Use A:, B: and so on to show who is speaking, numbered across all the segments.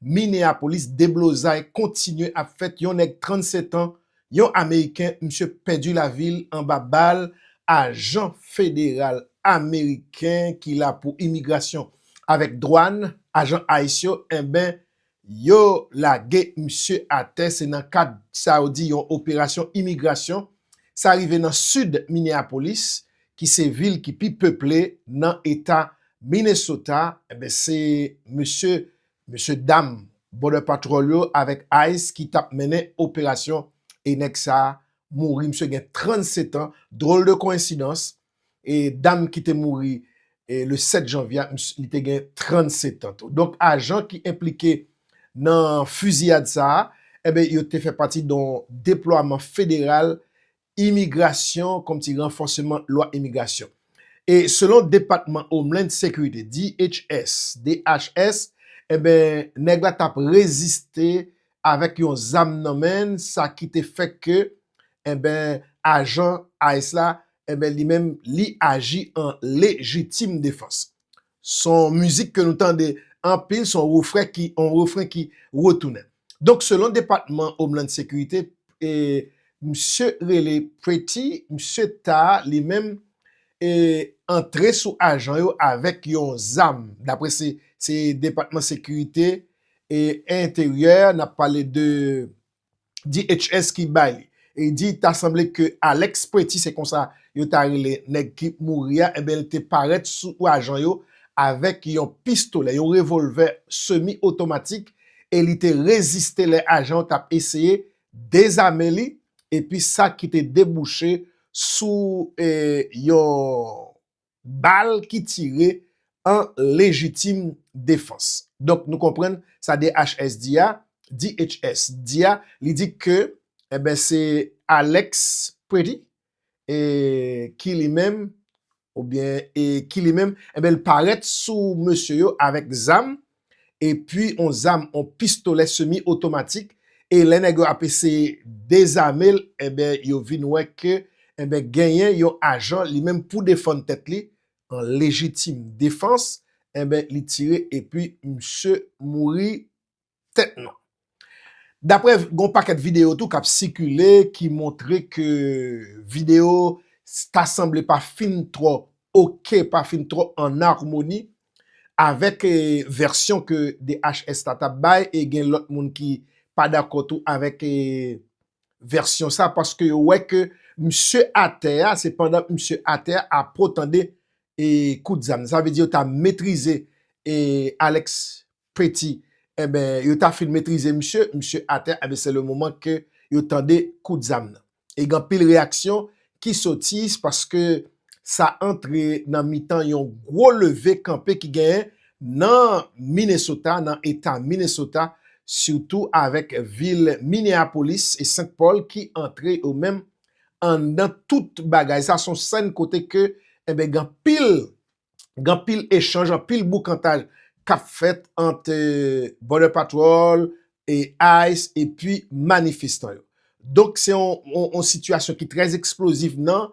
A: Minneapolis, deblozay kontinye ap fèt yon nèg 37 an, yon ameriken, misye pèdi lavi l anba bal ajan federal ameriken ki la pou imigrasyon avèk dwàn, ajan ice yo enben yo lage misye atè se nan kad sa yo di yon operasyon imigrasyon, sa rive nan sid Minneapolis ki se vil ki pi peple nan eta Minnesota enben se mesye Mesye dam Border Patrol yo avèk ice ki tap mennen operasyon e nèg sa mouri misye gen 37 ans drôle de coïncidence e dam ki te mouri le 7 janvye a li te gen 37 ans tou donk ajan ki enplike nan fiziyad sa enben yo te fè pati don deplwaman federal Imigrasyon kòm ti ranfòseman lwa imigrasyon. E selon depatman Homeland Security, DHS, DHS, enben nèg la tap reziste avèk yon zam nan men l sa ki te fè ke enben ajan ice la enben li menm li aji an lejitim defans. Son mizik ke nou tande anpil, son refren ki on refren ki retounen. Donk selon depatman Homeland Security, e misye rele Pretty, misye ta li menm e antre sou ajan yo avèk yon zam. Daprè se depatman sekirite e enteryè, nap pale de DHS ki bay li. E di ta sanble ke Alex Pretty, se konsa yo ta rele nèg ki mouri a, enben li te parèt sou ajan yo avèk yon pistolè, yon revolvè semi otomatik e li te reziste lè ajan yo t ap eseye dezame li epi sa ki te debouche sou yon Bal ki tire an lejitim defans. Donk nou konprann sa DHS di a, DHS di a, li di ke enben se Alex Preety e ki li menm oubyen e ki li menm enben li parèt sou mesye yo avèk zam epi on zam on pistolè semi otomatik e lè nèg yo ap eseye dezame l enben yo vin wè ke enben genyen yon ajan li menm pou defann tèt li an lejitim defans enben li tire epi misye mouri tèt nan. Daprè gon pakèt video tou kap sikile ki montre ke video ta sanble pa fin twò ok, pa fin twò an armoni avèk vèsyon ke DHS la tap bay e gen lòt moun ki pa dakò tou avèk vèsyon sa paske yo wè ke misye atè a, se pandan misye atè a apo tande kout zam. Sa vle di yo ta metrize Alex Petit, Enben, yo ta fin metrize misye, misye atè, enben se le moman ke yo tande kout zam nan. E gen anpil reyaksyon ki soti paske sa antre nan mitan yon gwo leve kanpe ki genyen nan Minnesota, nan eta Minnesota, sitou avèk vil Minneapolis e Saint Paul ki antre yo menm anndan tout bagay sa. Se yon sèn kote ke, enben gen anpil gen anpil echanj, anpil boukantaj k ap fèt ant Border Patrol, ice epi manifestan yo. Donk se yon sitiyasyon ki trè eksplozif nan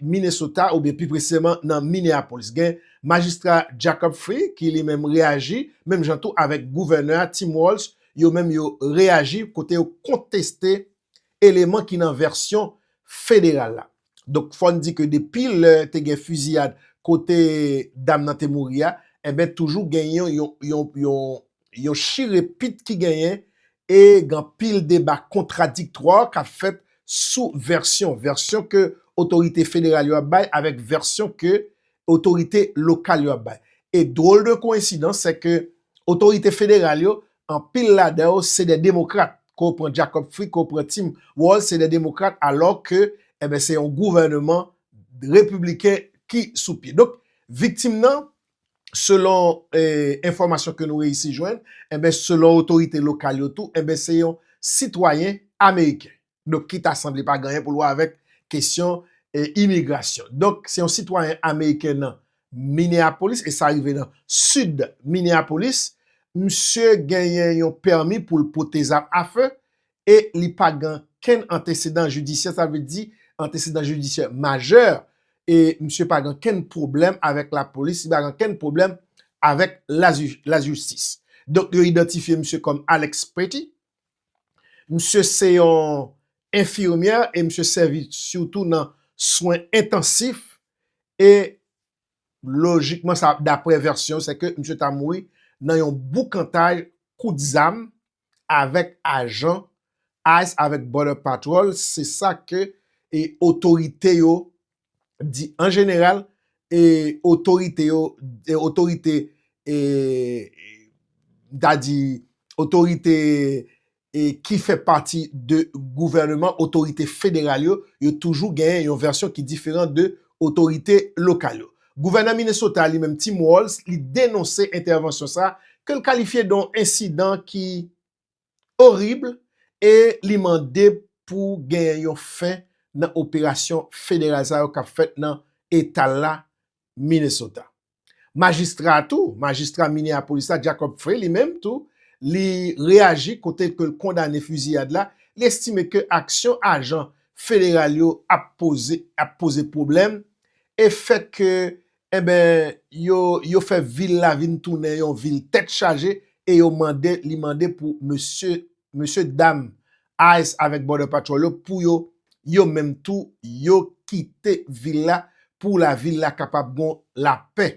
A: Minnesota oubyen pi presizeman nan Minneapolis. Gen majistra Jacob Frey ki li menm reyaji, menm jan tou avèk gouvènè a Tim Walz, yo menm yo reyaji kote yo konteste eleman ki nan vèsyon federal la. Donk fò n di ke depi lè te gen fiziyad kote dam nan te mouri a, enben toujou gen yon chire pit ki genyen e gen anpil deba kontradiktwa k ap fèt sou vèsyon, vèsyon ke otorite federal yo ap bay avèk vèsyon ke otorite lokal yo ap bay. E dwol de koensidans se ke otorite federal yo Anpil ladan yo se de demokrat, ke w pran Jacob Frick, ke w pran Tim Walz, se de demokrat alò ke enben se yon gouvèneman repibliken ki sou pye. Donk viktim nan selon enfòmasyon ke nou reyisi jwenn, enben selon otorite lokal yo tou, enben se yon sitwayen ameriken. donk ki ta sanble pa gen anyen pou l wè avèk kesyon imigrasyon. Donk, se yon sitwayen ameriken nan Minneapolis, e sa rive nan sid Minneapolis, misye genyen yon pèmi pou l pote zam afe, e li pa gen kenn antesedan jidisyè, sa vle di antesedan jidisyè majè, e misye pa gen kenn pwoblèm avèk lapolis, li pa gen kenn pwoblèm avèk lajistis. Donk, yo idantifye misye kòm Alex Petty, Misye se yon enfimyè e misye sèvi sitou nan swen entansif e lojikman sa daprè vèsyon se ke misye ta mouri nan yon boukantaj kout zam avèk ajan ice avèk border patrol se sa ke otorite yo di an jeneral e otorite yo e otorite e m ta di otorite e ki fè pati de gouvèneman otorite federal yo yo toujou gen yon vèsyon ki diferan de otorite lokal yo. Gouvènè Minnesota li menm Tim Walz li denonse entèvansyon sa ke l kalifye de yon ensidan ki orib e li mande pou gen yon fen nan operasyon federal sa yo k ap fèt nan eta l la, Minnesota. Majistra a tou, majistra Minneapolis la, Jacob Frey, li menm tou, li reyaji kote ke l kondane fiziyad la, li estime ke aksyon ajan federal yo ap poze pwoblèm e fèt ke Enben, yo, yo fè vil la vin tounen yon vil tèt chaje e yo mande, li mande pou mesye, mesye dam ice avèk border patrol yo pou yo, yo menm tou, yo kite vil la pou la vil la kapab gon lapè.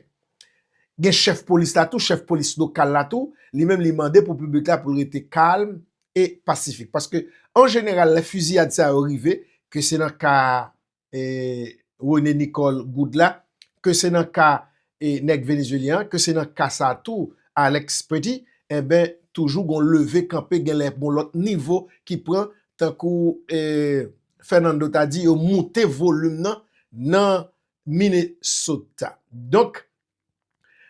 A: Gen chèf polis la tou, chèf polis lokal la tou, li menm li mande pou piblik la pou l rete kalm e pasifik. Paske an jeneral lè fiziyad sa yo rive, ke se nan ka René Nicole Goud la, ke se nan ka nèg Venezuelyen an, ke se nan ka sa tou Alex Petit, enben toujou gon leve kanpe gen lè gon lòt nivo ki pran tankou Fernando ta di yo moute volim nan nan Minnesota. Donk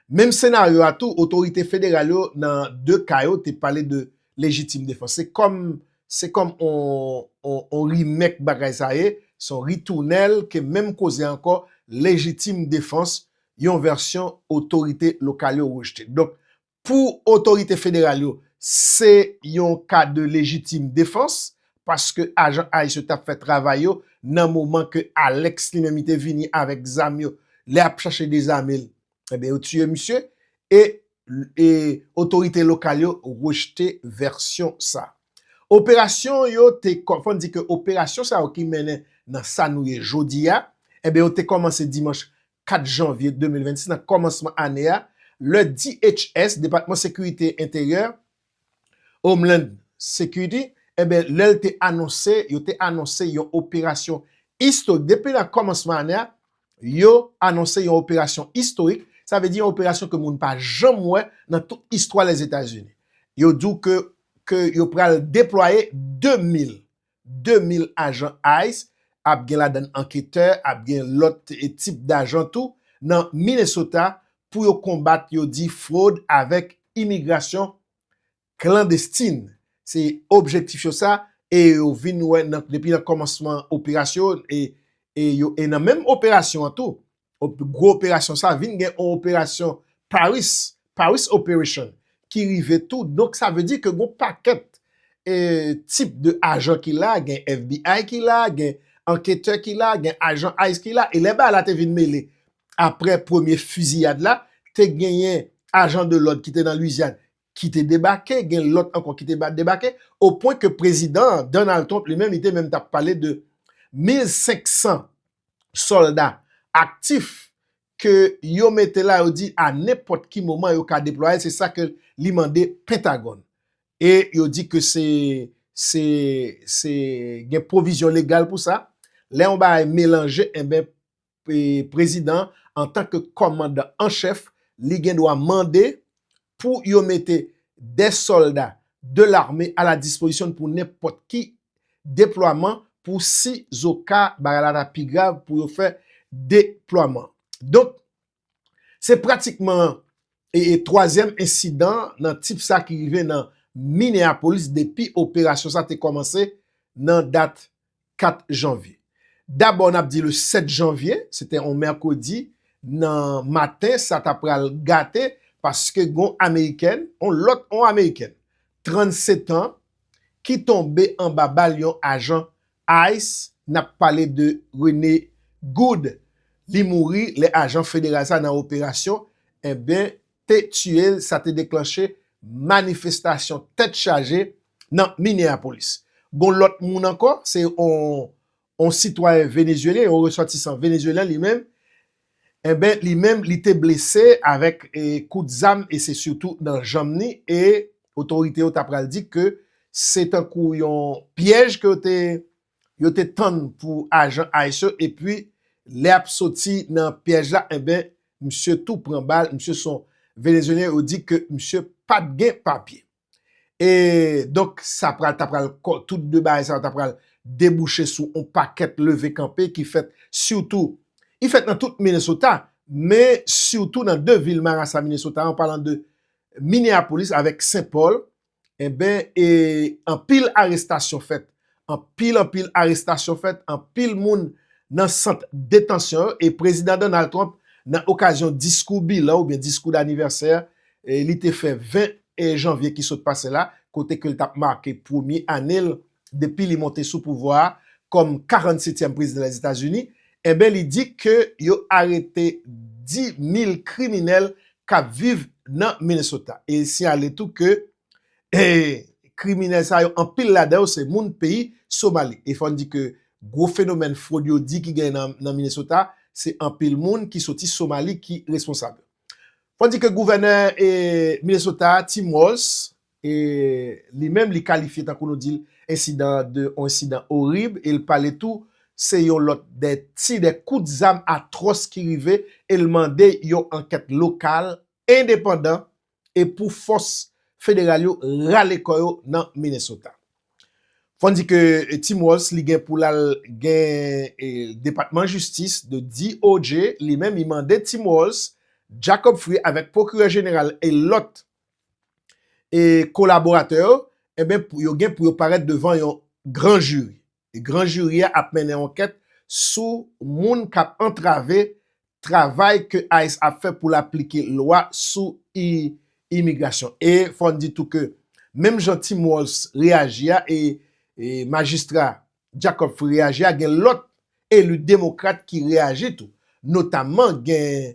A: Menm senaryo a tou, otorite federal yo nan 2 ka yo te pale de lejitim defans. Se kòm se kòm on remake bagay sa ye, se on ritounèl ke menm koze a ankò, lejitim defans, yon vèsyon otorite lokal yo rejte. Donk, Pou otorite federal yo, se yon ka de lejitim defans, paske ajan ice yo t ap fè travay yo nan moman ke Alex li menm li te vini avèk zam yo, lè y ap chache dezame l, enben yo tiye misye, e otorite lokal yo rejte vèsyon sa. Operasyon yo te, fò n di ke operasyon sa yo ki mennen nan sa nou ye jodi a, enben yo te kòmanse dimanch 4 janvye 2026 nan kòmansman ane a lè DHS, Depatman Sekirite Enteryè, Homeland Security, enben lè l te anonse, yo te anonse yon operasyon istorik. Depi nan kòmansman ane a, yo anonse yon operasyon istorik, sa vle di yon operasyon ke moun pa janm wè nan tout istwa Lèzetazini. Yo di w ke yo pral deplwaye 2 mil 2000 ajan ice, ap gen ladann anketè, ap gen lòt tip dajan tou, nan Minnesota pou yo konbat yo di fwod avèk imigrasyon klandestin. Se objektif yo sa e yo vin wè depi nan kòmansman operasyon e yo e nan menm operasyon an tou gwo operasyon sa vin gen yon operasyon Paris, Paris operation, ki rive tou. Donk sa vle di ke gon pakèt e tip de ajan ki la, gen FBI ki la, gen anketè ki la, gen ajan ice ki la. E lè bagay la te vin mele apre premye fiziyad la, te genyen ajan de lòd ki te nan Louisiane ki te debake, gen lòt ankò ki te debake, o pwen ke prezidan an, Donald Trump, li menm li te menm ta pale de 1500 sòlda aktif ke yo mete la yo di a nenpòt ki moman yo ka deplwaye se sa ke li mande Pentagòn. E yo di ke se se se gen pwovizyon legal pou sa. Lè yon bagay melanje enben prezidan an antan ke kòmandan an chèf li gen dwa mande pou yo mete 2 sòlda de lame a la dispozisyon pou nenpòt ki deplwaman pou si zoka bagay la ta pi grav pou yo fè deplwaman. Donk, se pratikman e twazyèm ensidan nan tip sa ki rive nan Minneapolis depi operasyon sa te kòmanse nan dat 4 janvye. Dabò n ap di le 7 janvye, se te yon mèkredi nan maten sa ta pral gate paske gen yon amerikèn, yon lòt, yon amerikèn 37 an ki tonbe anba bal yon ajan ice, n ap pale de René Goud, li mouri lè ajan federal sa nan operasyon, enben te tiye l sa te deklanche manifestasyon tèt chaje nan Minneapolis. Gon lòt moun ankò, se yon sitwayen Venezyelyen, yon resòtisan Venezyelyen li menm, enben li menm li te blese avèk kout zam e se sitou nan janm ni e otorite yo ta pral di ke se tankou yon pyèj ke yo te Yo te tann pou ajan ice yo epi lè yap soti nan pyèj la enben misye tou pran bal misye son Venezuelyen yo di ke misye pat gen papye e donk sa pral ta pral tout de bagay sa yo ta pral debouche sou on pakèt leve kanpe ki fèt sitou i fèt nan tout Minnesota men sitou nan de vil marasa Minnesota an palan de Minneapolis avèk St Paul Enben e anpil arestasyon fèt, anpil anpil arestasyon fèt, anpil moun nan sant detansyon yo e Prezidan Donald Trump nan okazyon diskou bilan oubyen diskou danivèsè li te fè 20 janvye ki sot pase la kote ke li t ap make premye ane l depi li monte sou pouvwa a kòm 47 tièm prezidan Lèzetazini, enben li di ke yo arete 10 mil kriminèl kap viv nan Minnesota. E li siyale tou ke e kriminèl sa yo anpil ladan yo se moun peyi Somali. E fò n di ke gwo fenomèn fwod yo di ki genyen nan Minnesota se anpil moun ki soti Somali ki responsab. Fò n di ke gouvènè e Minnesota a Tim Walz E li menm li kalifye tankou nou dil ensidan an de yon ensidan orib e l pale tou se yon lòt de ti de kout zam atwòs ki rive e l mande yon ankèt lokal endepandan e pou fòs federal yo rale kò yo nan Minnesota. Fò n di ke Tim Walz li gen pou l al gen depatman jistis de DOJ li menm li mande Tim Walz, Jacob Free avèk pwokirè jeneral e lòt e kolaboratè yo, enben yo gen pou yo parèt devan yon gran jiri. E gran jiri a ap mennen ankèt sou moun k ap antrave travay ke ice ap fè pou l aplike lwa sou imigrasyon. E fò n di tou ke menm jan Tim Walz reyaji a e majistra Jacob Free reyaji a, gen lòt eli demokrat ki reyaji tou. Notamman gen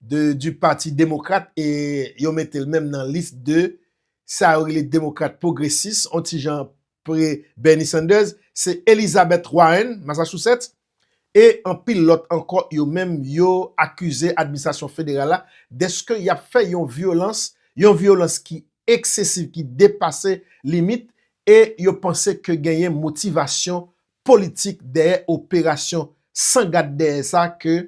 A: de du pati demokrat e yo mete l menm nan lis de sa yo rele demokrat pwogresis on ti jan pre Bernie Sanders se Elizabeth Warren, Massachusetts, e anpil lòt ankò yo menm yo akize administrasyon federal la deske y ap fè yon vyolans, yon vyolans ki eksesiv, ki depase limit e yo panse ke genyen motivasyon politik dèyè operasyon san gad dèyè sa ke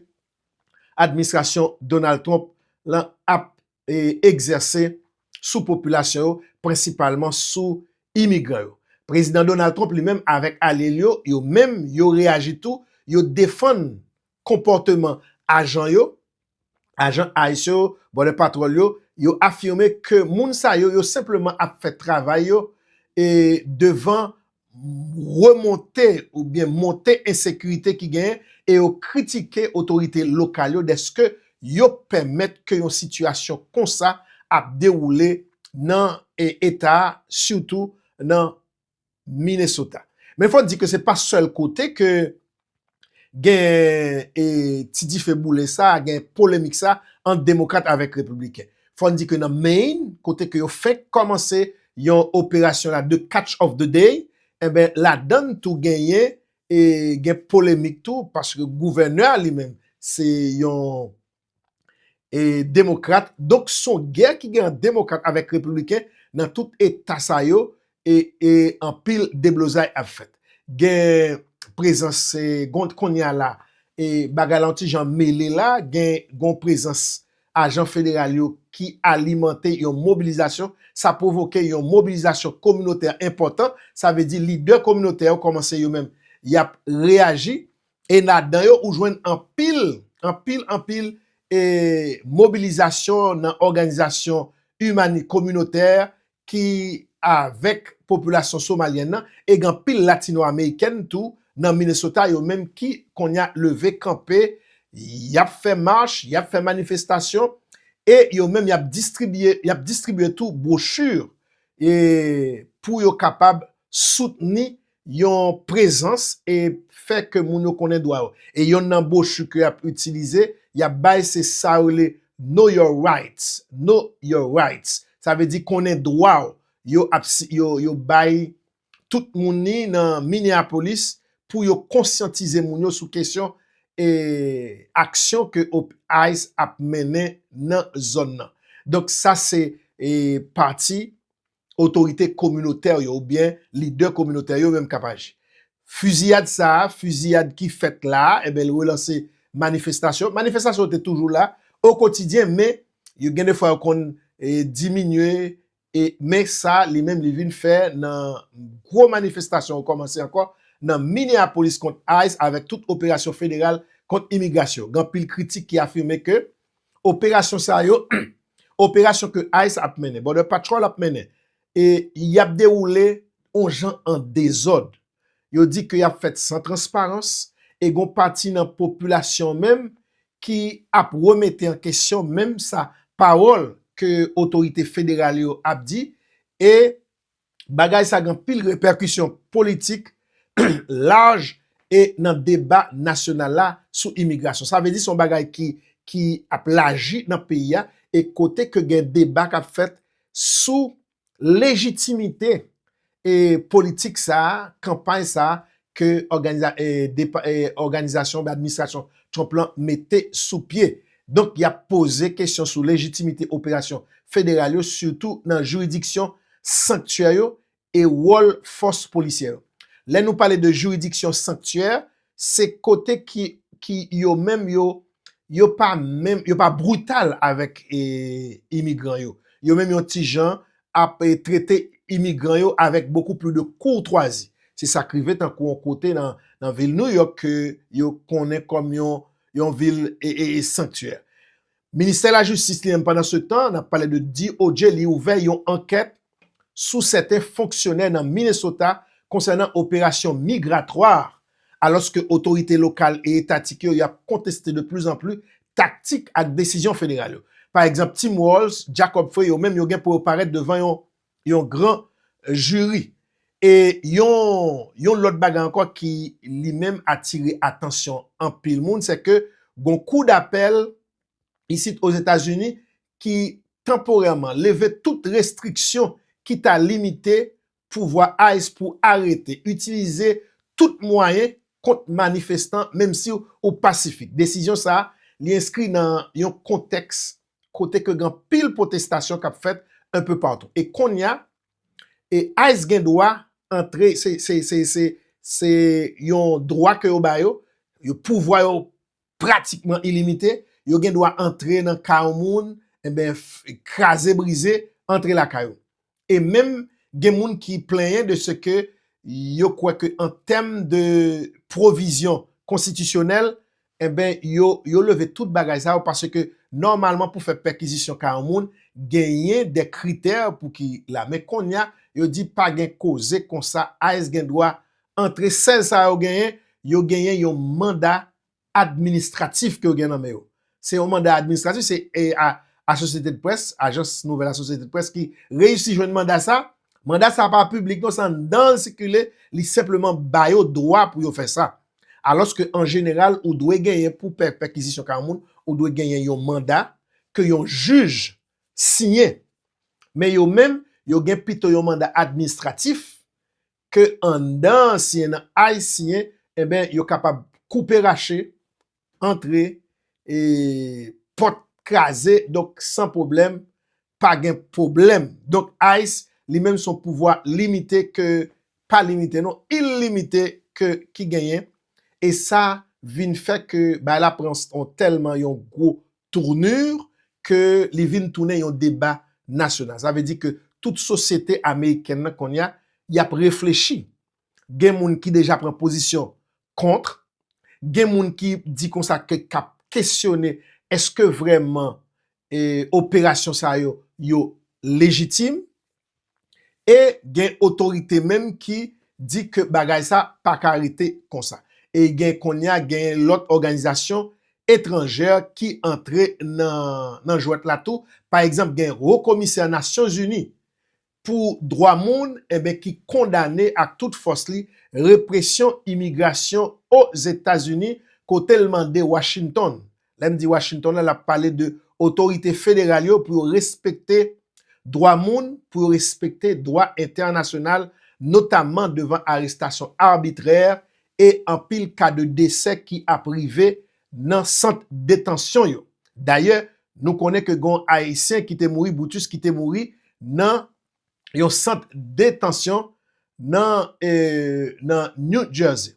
A: administrasyon Donald Trump lan ap egzèse sou popilasyon yo, prensipalman sou imigran yo. Prezidan Donald Trump li menm avèk alye l yo, yo menm yo reyaji tou, yo defann konpòteman ajan yo, ajan ice yo, Border Patrol yo, yo afime ke moun sa yo, yo senpleman ap fè travay yo devan remonte oubyen monte ensekirite ki genyen e yo kritike otorite lokal yo dèske yo pèmèt ke yon sitiyasyon konsa ap dewoule nan eta a sitou nan Minnesota. Men fò di ke se pa sèl kote ke gen ti dife boule sa, gen polemik sa ant demokrat avèk repibliken. Fò n di ke nan Maine, kote ke yo fenk kòmanse yon operasyon la de catch of the day, enben ladan n tou genyen gen polemik tou paske gouvènè a li menm se yon e demokrat donk son gè ki gen ant demokrat avèk repibliken nan tout eta sa yo e e anpil deblozay ap fèt gen prezans se gond konnya la e bagay la yon ti jan mele la gen gon prezans ajan federal yo ki alimante yon mobilizasyon sa pwovoke yon mobilizasyon kominotè enpòtan sa vle di lidè kominotè yo kòmanse yo menm yap reyaji E ladan yo ou jwenn anpil, anpil, anpil e mobilizasyon nan òganizasyon imani kominotè ki avèk popilasyon somalyèn nan e gen anpil latinoamerikèn tou nan Minnesota yo menm ki konnya leve kanpe y ap fè mach, y ap fè manifestasyon e yo menm y ap distribye, y ap distribye tou bwochi e pou yo kapab soutni Yon prezans e fè ke moun yo konnen dwa yo. E yonn nan bwochi ke y ap itilize, y ap bay se sa yo rele Know Your Rights, Know Your Rights. Sa vle di konnen dwa w. Yo ap si, yo, yo bay tout moun li nan Minneapolis pou yo konsyantize moun yo sou kesyon e aksyon ke op ice ap mennen nan zòn nan. Donk sa se e pati otorite kominotè yo oubyen lidè kominotè yo menm k ap aji. Fiziyad sa a, fiziyad ki fèt la a, enben l relanse manifestasyon. Manifestasyon yo te toujou la okotidyen men yo gen defwa yo konn diminye e men sa li menm li vin fè nan gwo manifestasyon yo kòmanse ankò nan Minneapolis kont ice avèk tout operasyon federal kont imigrasyon. Gen anpil kritik ki afime ke operasyon sa yo, operasyon ke ice ap mennen, Border Patrol ap mennen, e y ap dewoule yon jan an dezòd. Yo di ke y ap fèt san transparans, e gon pati nan popilasyon menm ki ap remete an kesyon menm sa pawòl ke otorite federal yo ap di, e bagay sa gen anpil repèkisyon politik laj e nan deba nasyonal la sou imigrasyon. Sa vle di se yon bagay ki ap laji nan peyi a e kote ke gen deba k ap fèt sou lejitimite e politik sa a, kanpay sa a ke òganizasyon oubyen administrasyon Trump lan mete sou pye. Donk y ap poze kesyon sou lejitimite operasyon federal yo sitou nan jiridiksyon sanktyè yo e wòl fòs polisyè yo. Lè nou pale de jiridiksyon sanktyè, se kote ki yo menm yo yo pa menm yo pa brital avèk imigran yo. Yo menm yon ti jan ap trete imigran yo avèk bokou pli de kourtwazi. Se sa k rive tankou yon kote nan vil Nouyòk ke yo konnen kòm yon vil sanktyè. Ministè Lajistis li menm pandansetan, n ap pale de DOJ, li ouvè yon ankèt sou sèten fonksyonè nan Minnesota konsènan operasyon migratwa alòske otorite lokal e etatik yo y ap konteste de pli zan pli taktik ak desizyon federal yo. Pa egzanp, Tim Walz, Jacob Frey yo menm yo gen pou yo parèt devan yon gran jiri. E yon lòt bagay ankò ki li menm atire atansyon anpil moun se ke gon kou dapèl isit Ozetazini ki tanporèman leve tout restriksyon ki ta limite pouvwa ice pou arete, itilize tout mwayen kont manifestan menm si ou pasifik. Desizyon sa a, li enskri nan yon kontèks kote ke gen anpil pwotestasyon k ap fèt enpe patou. E konnya, e ice gen dwa antre, se yon dwa ke yo ba yo, yon pouvwa yo pratikman ilimite, yo gen dwa antre nan ka yon moun, enben, kraze brize, antre lakay ou. E menm, gen moun ki plenyen de se ke yo kwè ke an tèm de pwovizyon konstitisyonèl, enben, yo leve tout bagay sa yo paske nòmalman pou fè pèkizisyon ka yon moun, genyen de kritè pou ki la. Men konnya, yo di pa gen koze konsa, ice gen dwa Antre 16 sa yo genyen, yo genyen yon manda administratif ke yo gen nan men yo. Se yon manda administratif, se Associated Press, ajans nouvèl Associated Press ki reyisi jwenn manda sa. Manda sa pa piblik non, se anndan l sikile, li senpleman ba yo dwa pou yo fè sa. Alòske an jeneral, ou dwe genyen pou fè pèkizisyon kay yon moun, ou dwe genyen yon manda ke yon jij siyen. Men yo menm, yo gen pito yon manda administratif ke anndan ansyen nan aysiyen enben yo kapab koupe rache antre e pòt kraze donk san pwoblèm pa gen pwoblèm donk ice li menm son pouvwa limite ke pa limite non ilimite ke ki genyen e sa vin fè ke bay la pran on tèlman yon gwo tournure ke li vin tounen yon deba nasyonal. Sa vle di ke tout sosyete amerikèn nan kounye a, y ap reflechi. Gen moun ki deja pran pozisyon contre, gen moun ki di konsa ke k ap kesyone eske vrèman operasyon sa yo, yo lejitim. E gen otorite menm ki di ke bagay sa pa ka rete konsa. E gen kounye a gen lòt òganizasyon etranjè ki antre nan jwèt la tou. Pa egzanp gen Wo Komisè Nasyon Zini pou Dwa Moun enben ki kondane ak tout fòs li represyon imigrasyon Ozetazini kote l mande Washington Lè m di Washington la, l ap pale de otorite federal yo pou yo respekte dwa moun, pou yo respekte dwa entènasyonal, notamman devan arestasyon arbitrè e anpil ka de desè ki ap rive nan sant detansyon yo. Dayè, nou konnen ke gen yon Ayisyen ki te mouri, Brutus, ki te mouri nan yon sant detansyon nan New Jersey.